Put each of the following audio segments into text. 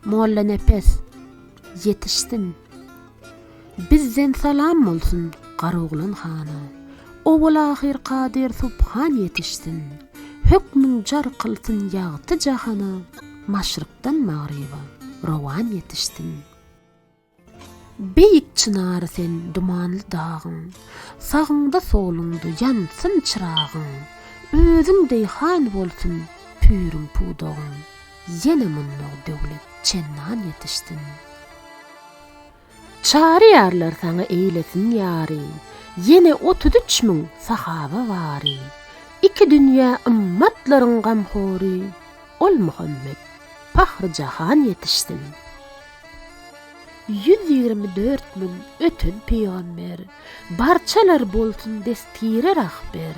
Mollanepes, ýetişsin. Bizden salam bolsun Garoglan hana. Owal-ahyr kadyr subhan ýetişsin. Hökmüň jar kylsyn ýagty jahana. Maşrykdan magryba rowan ýetişsin. Beýik çynary sen dumanly dagyň, Sagyňda-soluňda ýansyn çyragyň, Özüň deý han bolsun püriň-pudagyň, Ýene mundag döwlet çennan ýetişsin. Çary ýarlar saňa eýlesin ýary, Ýene otuz üç müň sahaba bary, Iki dünýä ymmatlaryň gamhory, Ol Muhammet, Pahry-jahan ýetişsin. Ýüz ýigrimi dört müň öten pygamber, Barçalar bolsun destgire rahber.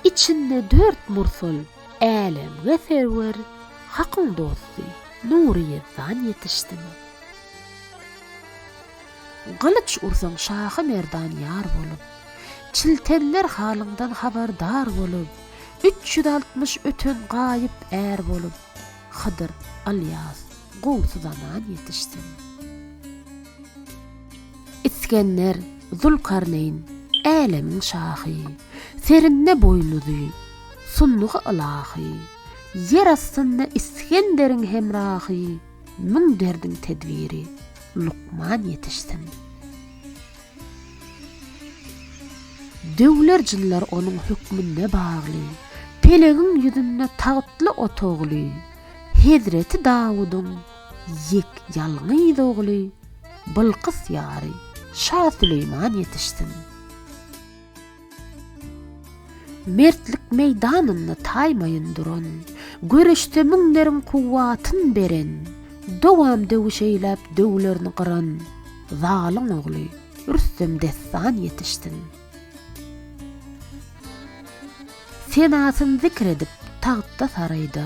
Içinde dört mursal, älemge serwer, Hakyň dosty, Nury Ýezdan ýetişsin. Gylyç ursaň şahy merdan ýar bolup, Çiltenler halyňdan habardar bolup, Üç ýüz altmyş öten gaýyp är bolup, Hydyr Alyas gowsy zaman ýetişsin. Isgender Zülkarneýn älemiň şahy, Serinde boýnuzy, sundugy ylahy, Ýer astynda Isgenderiň hemrahy, Müň derdiň tedbiri, lukman ýetişsin. Döwler jyllar onuň hökmünde bagly, Pelegiň ýüzünde tagtly otagly, Hezreti Dawudyň ýek ýalňyz ogly, Bylkys ýary, Şa Süleýman ýetişsin. Mertlik meýdanynda taýmaýyn duran, Göreşde müňleriň kuwwatyn beren, Dowam döwüş eýläp döwlerini gyran, Zalyň ogly Rüstem dessan ýetişsin. Senasyn zikr edip tagtda-saraýda,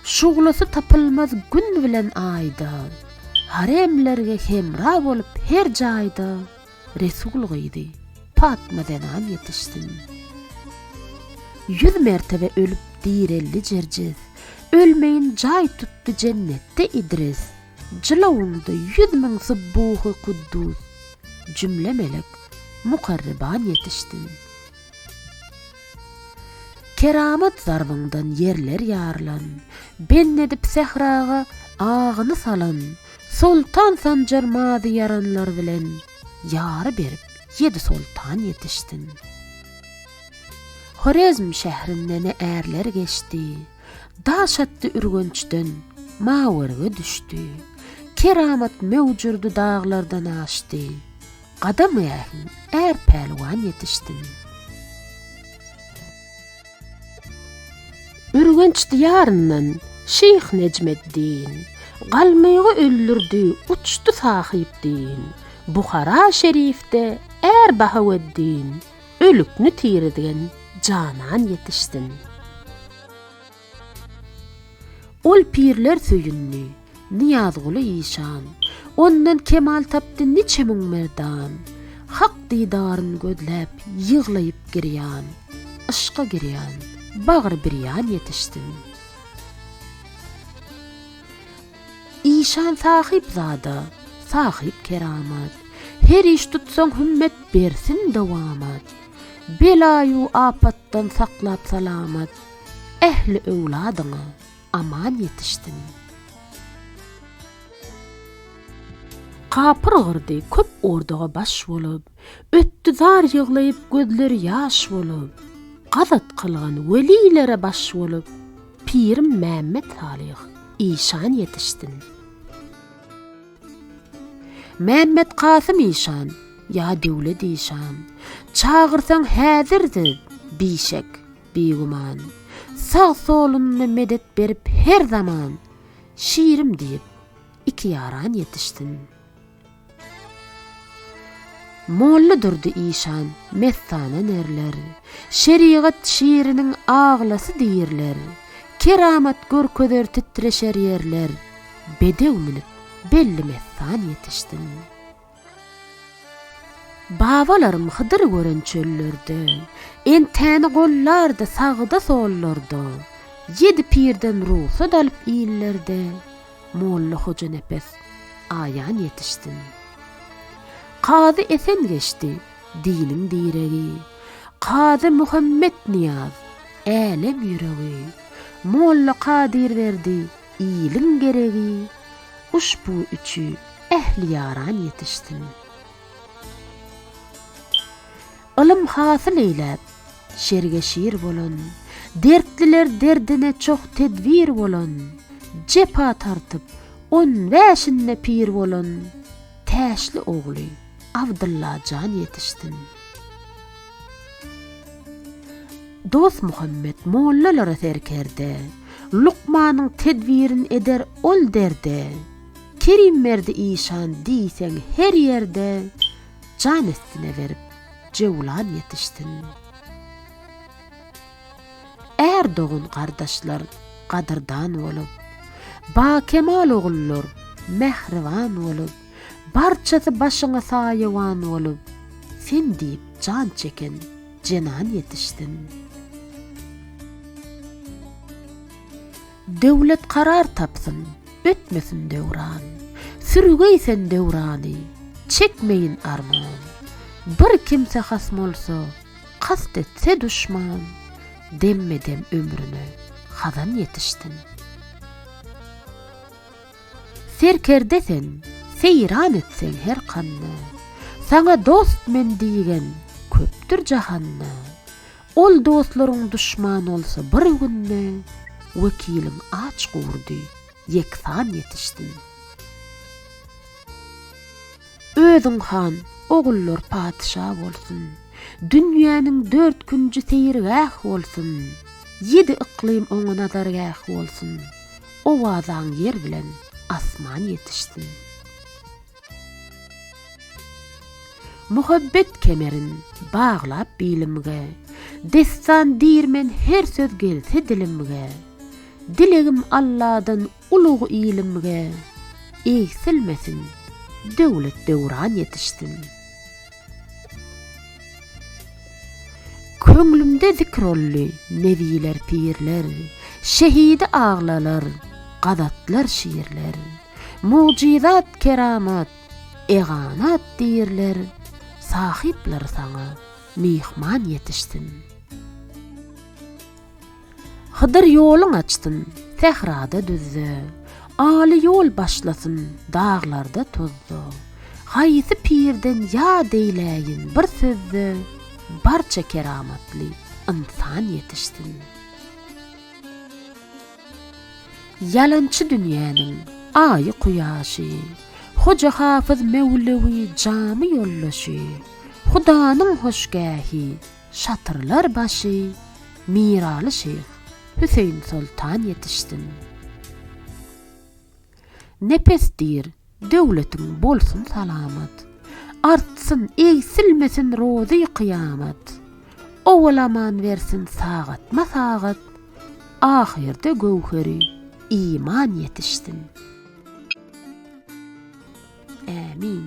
Şuglasy tapylmaz gün bilen aýda, Haremlerge hemra bolup her jaýda, Resul gyzy Patma zenan ýetişsin. Ýüz mertebe ölüp direldi Jerjiz, Ölmeýin jaý tutdy jennetde Idris. Jylawynda ýüz müň subbuhy-kuddus, Jümle melek, mukarreban ýetişsin. Keramat zarbyňdan ýerler ýarylan, Bend edip sähraga agyny salan, Soltan Sanjar mazy ýaranlar bilen, Ýary berip ýedi soltan ýetişsin. Horezm şährinde ne ärler geçdi, Daş atdy Ürgençden, Mawerge düşdi. Keramat möwjürdi daglardan aşdy, Gadam ähli är pälwan ýetişsin. Ürgenç diýaryndan Şyh Nejmeddin, Galmygy öldürdi uçdy Sahyp din, Buhara şerifde är Bahaweddin, Ölükni tirizgen janan ýetişsin. Ol pirler söýündi, Nyýazguly işan, Ondan kemal tapdy niçe müň merdan. Hak didaryn gözläp, ýyglaýyp girýan, Yşka girýan, bagry birýan ýetişsin. Işan sahyp zada, sahyp keramat, Her iş tutsaň hümmet bersin dowamat. Bela-u apatdan saklap salamat. Ähli öwladyňa aman ýetişsin. Kapyr gyrdy köp ordaga baş bolup, Ötdi zar ýyglaýyp gözleri ýaş bolup, Gazat kylgan welilere baş bolup, Pirim Mämmet Salyh işan ýetişsin. Mämmet Kasym işan, ýa Döwlet işan, Çagyrsaň häzirdir, bişek, bigüman. Sag-solunda medet berip her zaman, Şirim diýip, iki ýaran ýetişsin. Mollydurdy işan, mestana nerler, Şerigat şiriniň aglasy diýrler, Keramat görkezer titreşer ýerler, Bedew münüp, belli mestan ýetişsin. Babalarym Hydyry gören çöllerde, Entäni gollardy sagda-sollarda, Ýedi pirden rugsat alyp illerde, Molla Hojanepes aýan ýetişsin. Kazy Esen geçdi, diniň diregi, Kazy Muhammetnyýaz, älem ýüregi, Molla Kadyrberdi, Iliň geregi uşbu üçi ähli ýaran ýetişsin. Ylym hasyl eýläp, şerge şir bolan, Dertliler derdine çoh tedbir bolan, Jepa tartyp, on bäşinde pir bolan Täşli ogly Abdylla jan ýetişsin. Dosmuhammet mollalara serkerde. Lukmanyň tedbirin eder ol derde. Kerimberdi işan diýseň her ýerde, Jan estine berip, Jewlan ýetişsin. Är dogan gardaşlar gadyrdan bolup, Bakemal ogullar mähriban bolup, Barçasy başyňa saýawan bolup, Sen diýip jan çeken jenan ýetişsin. Döwlet karar tapsyn, ötmesin döwran, Sürgey sen döwrany, çekmeýin arman. Bir kimse has bolsa, kast etse duşman, Demme-dem ömrüne hazan ýetişsin. Serkerde sen, seýran etseň her kanda, Saňa dost men diýgen köpdür jahanda, Ol dostlaryň duşman bolsa bir günde, Wekiliň aç gurdy, ýeksan ýetişsin. Özüň han, ogullar patyşa bolsun, Dünýäniň dört künji seýilgäh bolsun, Ýedi yklym oňa nazargäh bolsun, Owazaň ýer bilen asman ýetişsin. Muhabbet kemerin baglap bilimge, Dessan diýrmen her söz gelse dilimge, Dilegim Alladan ulug ilimge, Egsilmesin, döwlet-döwran ýetişsin. Köňlümde zikr olly nebiler pirler, Şehidi aglalar, gazatlar şirler, Mugjyzat keramat, eganat dirler, Sahyplar saňa myhman ýetişsin. Hydyr ýoluň açsyn, sährada düzde, Aly ýol başlasyn, daglarda tozda. Haýsy pirden ýad eýläýin bir sözde, Barça keramatly ynsan ýetişsin. Ýalançy dünýäniň Aýy-Kuýaşy, Hoja Hafyz Mewlewi jamy ýoldaşy, Hudanyň hoşgähi, Şatyrlar başy Miraly şyh Hüseýin Soltan ýetişsin. Nepes dir döwletiň bolsun salamat, Artsyn, egsilmesin rozy kyýamat, Owalaman bersin sagatma sagat, Ahyrda göwheri iman ýetişsin. Ämin.